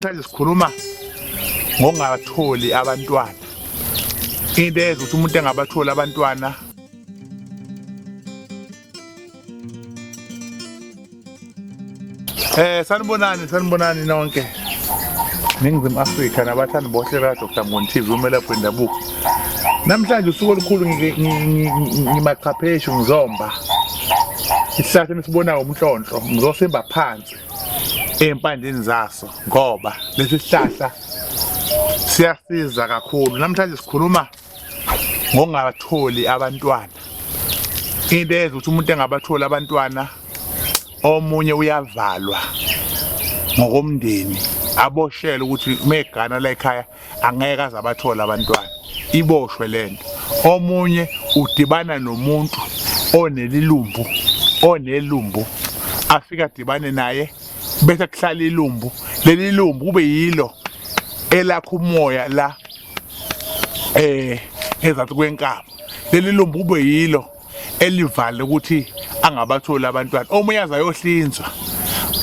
Manje sikhuluma ngokungatholi abantwana into eyenza ukuthi umuntu engabatholi abantwana Eh sanibonani sanibonani nonke Ningizimu Afrika nabathandi bohle la Dr. Mboni TV umelaphi wendabuko Namhlanje usuku olukhulu ngimaqhapheshu ngizomba isihlahla esibonayo umhlonhlo ngizosimba phansi empandeni zaso ngoba lesi sihlahla siyasiza kakhulu namhlanje sikhuluma ngongatholi abantwana into eyenza ukuthi umuntu engabatholi abantwana omunye uyavalwa ngokomndeni aboshele ukuthi megana la ekhaya angeke aze abathole abantwana iboshwe lento omunye udibana nomuntu onelilumbu onelumbu afika dibane naye bese kuhlala ilumbu leli lumbu kube yilo elakha umoya la eh ezathi kwenkaba leli lumbu kube yilo elivale ukuthi angabatholi abantwana omunye azayohlinzwa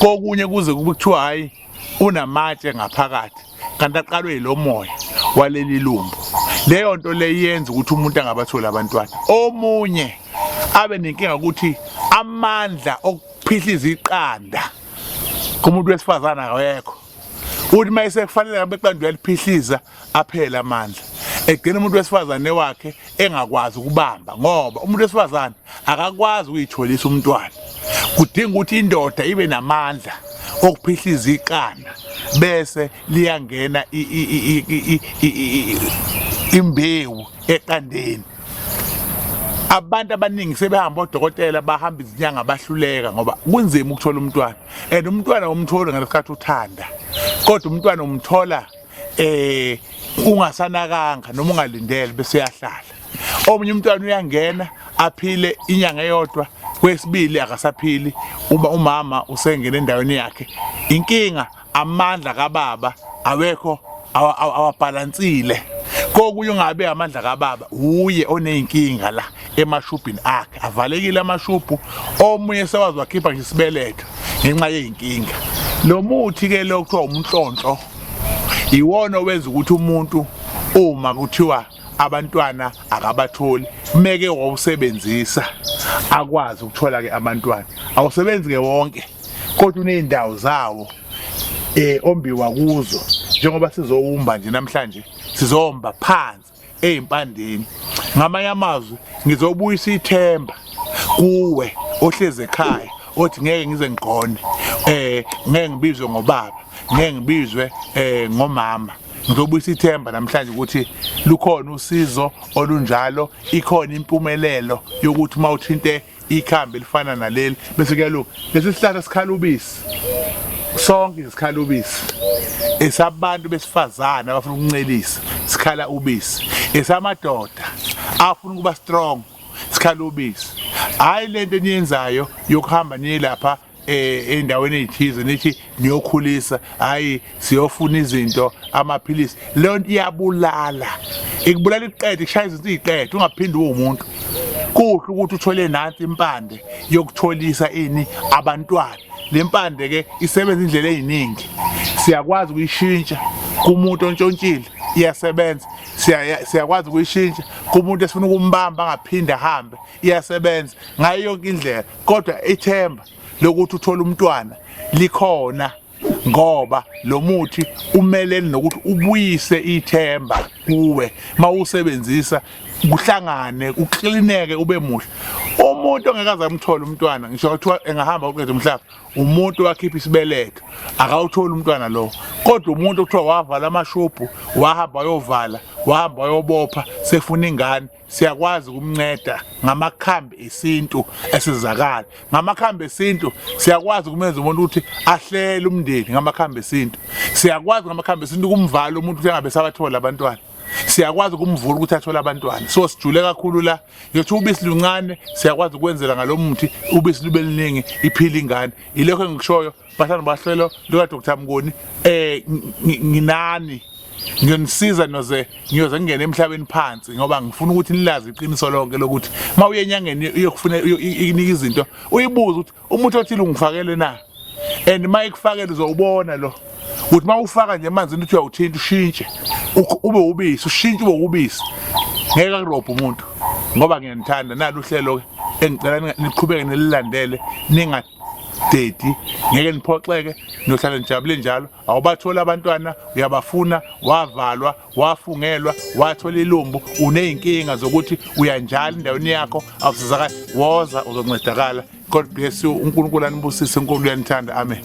kokunye kuze kube kuthiwa hayi unamatshe ngaphakathi kanti aqalwe yilomoya waleli lumbu leyo nto leyenza ukuthi umuntu angabatholi abantwana omunye abe nenkinga ukuthi amandla okuphihliza iqanda kumuntu wesifazana akekho uthi uma esekufanele ngabe iqanda uyaliphihliza aphele amandla egcina umuntu wesifazane wakhe engakwazi ukubamba ngoba umuntu wesifazane akakwazi ukuyitholisa umntwana kudinga ukuthi indoda ibe namandla okuphihliza iqanda bese liyangena imbewu eqandeni abantu abaningi sebehamba odokotela bahamba izinyanga abahluleka ngoba kunzima ukuthola umntwana and umntwana umtholi ngalesikhathi uthanda kodwa umntwana umthola eh ungasanakanga noma ungalindele bese yahlala omunye umntwana uyangena aphile inyanga eyodwa kwesibili akasaphili uma umama usengena endaweni yakhe inkinga amandla kababa awekho awabhalansile kokunye ungabe amandla kababa uye oneyinkinga la emashubhini akhe avalekile amashubhu omunye sewazi wakhipha nje isibeletho ngenxa yeyinkinga lo muthi ke lo kuthiwa umnhlonhlo iwona owenza ukuthi umuntu uma kuthiwa abantwana akabatholi kumeke wawusebenzisa akwazi ukuthola ke abantwana awusebenzi ke wonke kodwa uneyindawo zawo eh ombiwa kuzo njengoba sizowumba nje namhlanje sizomba phansi ezimpandeni ngamanye amazwi ngizobuyisa ithemba kuwe ohlezi ekhaya othi ngeke ngize ngigone eh ngeke ngibizwe ngobaba ngeke ngibizwe eh ngomama ngizobuyisa ithemba namhlanje ukuthi lukhona usizo olunjalo ikhona impumelelo yokuthi uma uthinte ikhambi elifana naleli bese kuyalunga lesi sihlahla sikhala ubisi sonke sikhala ubisi esabantu besifazane abafuna ukuncelisa sikhala ubisi esamadoda afuna ukuba strong sikhala ubisi hayi lento eniyenzayo yokuhamba niyelapha eh, endaweni ezithize nithi niyokhulisa hayi siyofuna izinto amaphilisi leyo nto iyabulala ikubulala iqede kushaya izinto iqede ungaphindi uwumuntu kuhle ukuthi uthole nansi impande yokutholisa ini abantwana le mpande ke isebenza indlela eziningi siyakwazi ukuyishintsha kumuntu ontshontshile iyasebenza siyakwazi ukuyishintsha kumuntu esifuna ukumbamba angaphinde ahambe iyasebenza ngayo yonke indlela kodwa ithemba lokuthi uthole umntwana likhona ngoba lo muthi umeleni nokuthi ubuyise ithemba kuwe mawusebenzisa kuhlangane uklineke ube muhle umuntu ongekaze amthole umntwana ngisho kuthiwa engahamba uqede umhlaba umuntu wakhipha isibeletho akawutholi umntwana lo kodwa umuntu okuthiwa wavala amashobhu wahamba wayovala wahamba wayobopha sefuna ingane siyakwazi ukumnceda ngamakhambi esintu esizakala ngamakhambi esintu siyakwazi ukumenza umuntu ukuthi ahlele umndeni ngamakhambi esintu siyakwazi ngamakhambi esintu kumvala umuntu ukuthi angabe sabathola abantwana siyakwazi ukumvula ukuthi athole abantwana so sijule kakhulu la yothi ubisi luncane siyakwazi ukwenzela ngalomuthi ubisi lube liningi iphila ingane ilokho engikushoyo Bahlalo bahlelo lika Dr Mngoni eh nginani ngiyonisiza noze ngiyoze ngingene emhlabeni phansi ngoba ngifuna ukuthi nilazi iqiniso lonke lokuthi uma uye enyangeni uyokufuna inika izinto uyibuze ukuthi umuthi othile ungifakele na and uma ikufakele uzowubona lo ukuthi uma ufaka nje emanzini uthi uyawuthinta ushintshe ube ubisi ushintshe ube ubisi ngeke akurobhe umuntu ngoba ngiyanithanda nalo uhlelo-ke engicela niqhubeke nililandele ningathi Daddy ngeke niphoxeke niyohlala nijabule njalo awubatholi abantwana uyabafuna wavalwa wafungelwa wathola ilumbu uneyinkinga zokuthi uyanjalo endaweni yakho awusizakala woza uzoncedakala god bless you unkulunkulu anibusise unkulunkulu uyanithanda amen